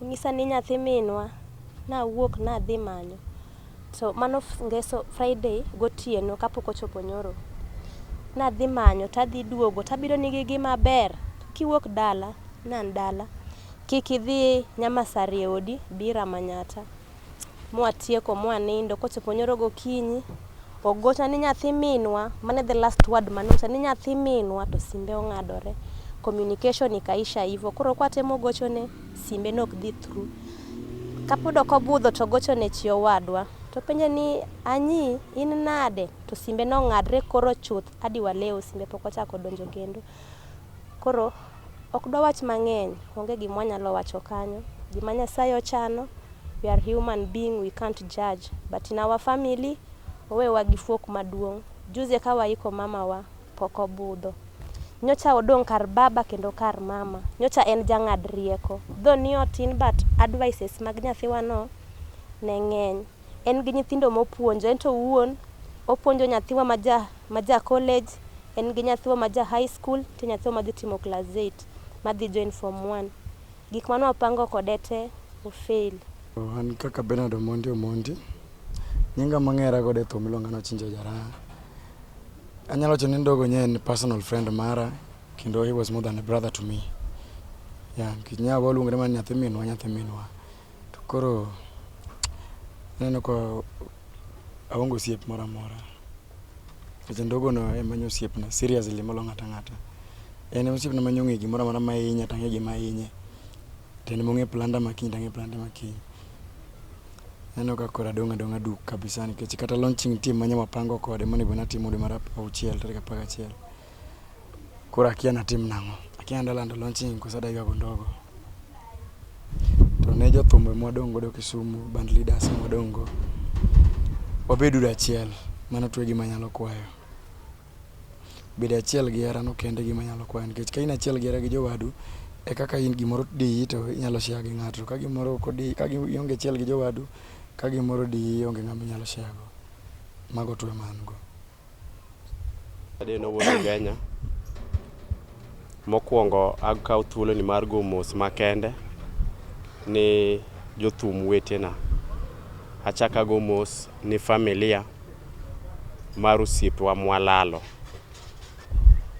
Onyisa ni nyathi minwa, nawuok nadhi manyo to mano ngeso Friday gotieno kapok ochopo nyoro. Nadhi manyo tadhi duogo tabiro nigi gi maber, kiwuok dala, nan dala, kik idhi Nyamasarie odi, bi ira Manyatta. mwatieko mwanindo kochopo nyoro gokinyi ogochna ni nyathi minwa, mano e the last word mane onyisa ni nyathi minwa to simbe ongadore, communication ikaisha hivo. Koro kwatemo gochone simbe ne ok dhi through. Kapod ok obudho to ogochone chi owadwa topenje ni Anyii in nade to simbe nongadre koro chuth hadi waleo simbe pok ochak odonjo kendo. Koro ok dwawach mang'eny, onge gima wanyalo wacho kanyo. Gima Nyasaye ochano, we are human being we can't judge but in our family owewa gi fuok maduong'. Juzi eka waiko mamawa, pok obudho. Nyocha odong' kar baba kendo kar mama. Nyocha en jang'ad rieko. Though ni otin but advices mag nyathiwano ne ng'eny. En gi nyithindo mopuonjo, ento owuon opuonjo nyathiwa ma ja ma ja college, en gi nyathwa ma ja high school, nitie nyathwa ma dhi timo class eight, ma dhi join form one. Gik mane wapango kode te o fail. An kaka Bernard Omondi Omondi, nyinga mang'era godo e thum iluonga ni Ochinja Jaraha. Anyalo wacho ni Ndogo nye en personal friend mara kendo he was more than a brother to me. Yeah, nikech nya waluongre mana ni nyathi minwa nyathi minwa. To koro aneno ka aonge osiep moro amora. Nikech ondogono ema en osiepna seriously molo ng'ato ang'ata. En e osiepna mane ong'eyo gimoro amora ma hinya to ang'eyo gima hinye. To en ema ong'eyo planda ma kiny to ang'eyo planda ma kiny. Aneno ka koro adong' adong'a duk kabisa nikech kata launching nitie mane wapango kode monego bed ni atimo dwe mar auchiel tarik apar gachiel. Koro akia natim nang'o. Akia nanda lando launching koso adagi ago ndogo. To ne jothumbe mwadong' godo Kisumu, band leaders mwadong' go, wabed uru achiel. Mano to e gima anyalo kwayo. Bedo achiel gi hera no kende e gima anyalo kwayo nikech ka in achiel gi hera gi jowadu, e kaka in gimoro diyi to inyalo share gi ng'ato. To ka gimoro ok odiyi, ka ionge achiel gi jowadu, ka gimoro odiyi onge ng'ama inyalo share go. Mago to e ma an go. Adeno wuod Ugenya. Mokwongo akawo thuoloni mar go mos makende ni jothum wetena. Achak ago mos ni familia mar osiepwa mwalalo.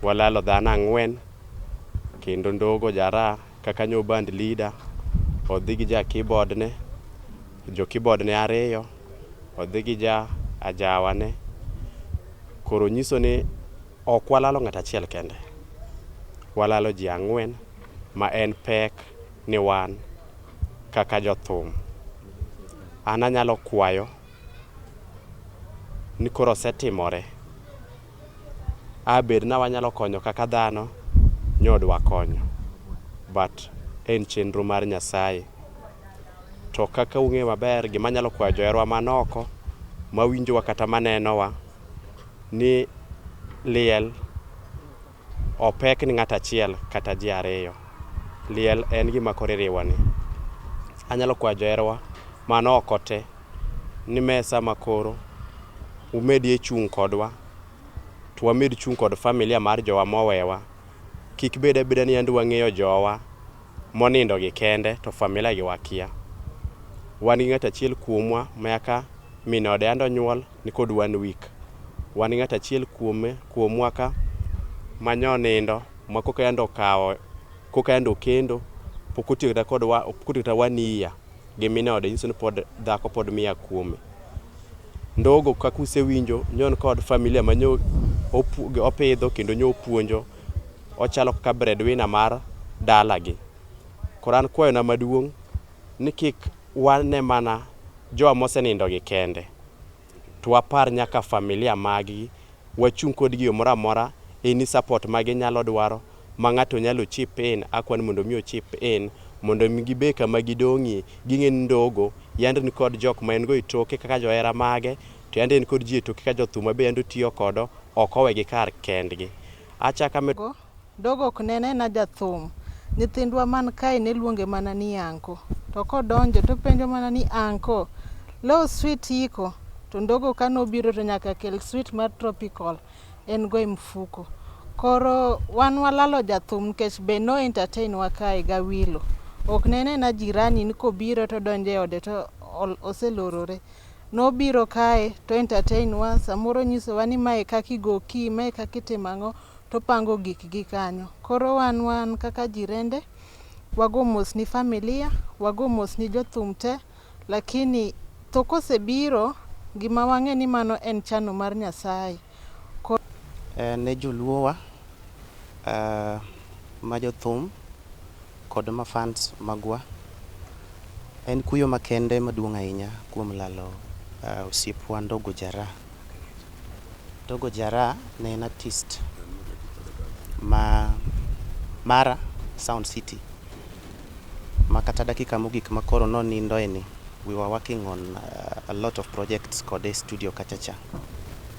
Walalo dhano ang'wen kendo Ndogo Jaraa kaka nyo band leader, odhi gi ja keyboard ne, jo keyboard ne ariyo. odhi gi ja ajawa ne koro nyiso ni ok walalo ng'at achiel kende, walalo ji ang'wen ma en pek ni wan kaka jothum. An anyalo kwayo ni koro osetimore. a bed ni wanyalo konyo kaka dhano ni ok wakonyo but en chenro mar Nyasaye. To kaka ung'eyo maber gima anyalo kwayo joherwa man oko mawinjowa kata manenowa ni liel ok pek ni ng'ato achiel kata ji ariyo. Liel en gima koro iriwoni. Anyalo kwayo joherwa man oko te ni mesa ma koro umedie chung' kodwa to wamed chung' kod familia mar jowa mowewa. Kik bed abeda ni yande wang'eyo jowa monindo gi kende to familia gi wakia. Wan gi ng'at achiel kuomwa mayaka min ode yande onyuol ni kod one week. Wan gi ng'at achiel kuome kuomwa ka ma nyo onindo ma koka yande okawo koka yande okendo pok otiyo kata kodwa pok otiyo kata one year. gi min ode nyiso ni pod dhako pod mia kuome. Ndogo kaka usewinjo nyo en kod familia ma nyo opidho kendo nyo opuonjo, ochalo kaka bread winner mar dalagi. Koro an kwayona maduong' ni kik wane mana jowa mosenindogi kende. to wapar nyaka familia maggi, wachung' kodgi yo moro amora, any support ma ginyalo dwaro, ma ng'ato nyalo chip in, akwan mondo mi o chip in, mondo mi gibe kama gidong'ie, ging'e ni Ndogo yande ni kod jok ma en go e toke kaka johera mage, to yande en kod ji e toke kaka jothum ma be yande otiyo kodo, ok owegi kar kendgi. Achak amedo. Dogo ok ne nena jathum. Nyithindwa man kae ne luonge mana ni Anko. To kodonjo to openjo mana ni Anko, leo sweet iko? To Ndogo kane obiro to nyaka kel sweet mar tropical en go e mfuko. Koro wan walalo jathum nikech be no entertain wa kae gawilo. Ok ne nena jirani ni kobiro to odonjo e ode to oselorore. Nobiro kae to o entertain wa, samoro onyisowa ni mae e kaka igo key, mae e kaka itimo ang'o. to pango gikgi kanyo. Koro wan wan kaka jirende wago mos ni familia, wago mos ni jothum te lakini tho kosebiro gima wang'e ni mano en chano mar Nyasaye. Koro. Ne joluowa ma jothum. kod ma fans magwa. En kuyo makende maduong' ahinya kuom lalo osiepwa Ndogo Jara. Ndogo Jara ne en artist ma mara Sound City ma kata dakika mogik ma koro nonindoe ni we were working on a lot of projects kode e studio kacha cha.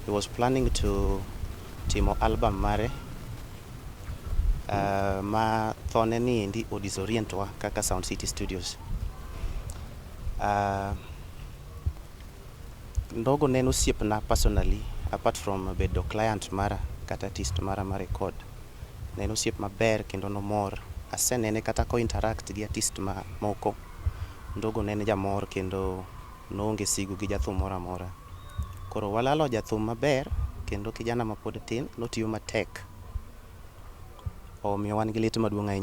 He was planning to timo album mare Ma thone ni endi o disorient wa kaka Sound City Studios. Ndogo ne en osiepna personally apart from bedo client mara kata artist mara ma record. Ne en osiep maber kendo nomor. Asenene kata ko interact gi artist ma moko. Ndogo ne en jamor kendo. Noonge sigu gi jathum moro amora. Koro walalo jathum maber kendo kijana mapod tin notiyo matek. Omiyo wan gi lit maduong' ahinya.